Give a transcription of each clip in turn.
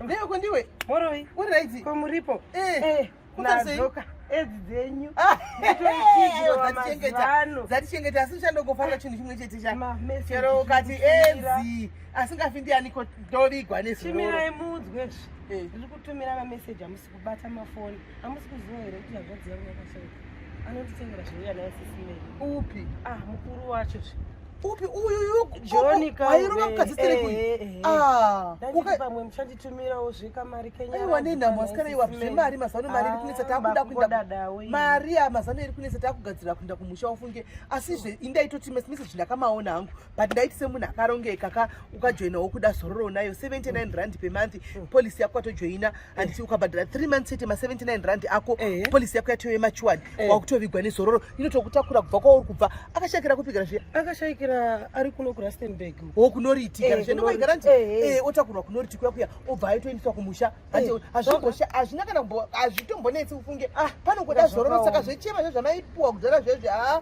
Ndeyoko ndiwe moroi uri raidzi ko muripo nadzoka edzi dzenyu dzatichengeta asi uchandogofarira chinhu chimwe chete chachero ukati edzi asingafi ndianiko ndovigwa nezimirai muudzwe zvi ndiri kutumira mameseji amusi kubata mafoni amusi kuziva here kuti hazvadzi yangu yakashauka anotitengera zveuya naye sisimei upi ah mukuru wacho zve upi uyuyuairova mukadzi serekui eh, eh, eh, ah, pamwe muchanditumirawo zvekamari kenyaiwa nenhamo asikana iwa zvemari mazano mari iri kunetsa ah, takuda kuenda mari amazano iri kunetsa takugadzirira kuenda kumusha ufunge asizve indaitoti mese mese zvindakamaona hangu but ndaiti semunhu akarongeka ka ukajoina wokuda zororo unayo 79 rand pemonth mm. policy yako watojoina and eh. ukabhadhara 3 months chete ma79 rand ako eh. policy yako yatove machuwadi eh. wakutovigwa nezororo inotokutakura kubva kwauri kubva akashayikira kupigara zviya akashayikira ari kuno kurastenburg wo kunoriitikara zviya ndokaigara nti otakurwa kunoriti kuya kuya obva aitoendeswa kumusha hazvina kana hazvitombonetsi ufunge ah, panokuda zororo saka zvechema zve zvamaipuwa kudhara zvezve haa ah.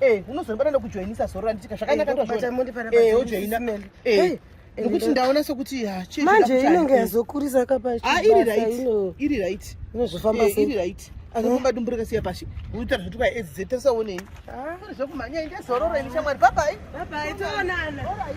Eh, unozondibata ndokujoinisa zoro randitika zvakanaka eh, ndozvona. Eh, ujoina. Eh. Nokuti ndaona sokuti ha ah, chii. Manje inenge yazokurisa kapa. Ah, iri right. Iri right. Inozofamba eh, sei? Iri right. Anokumba dumburika siya pashi. Uita zvotuka EZ tasaonei. Ah, zvokumhanya inge zororo ini shamwari. Bye bye. Bye bye. Toonana. All right.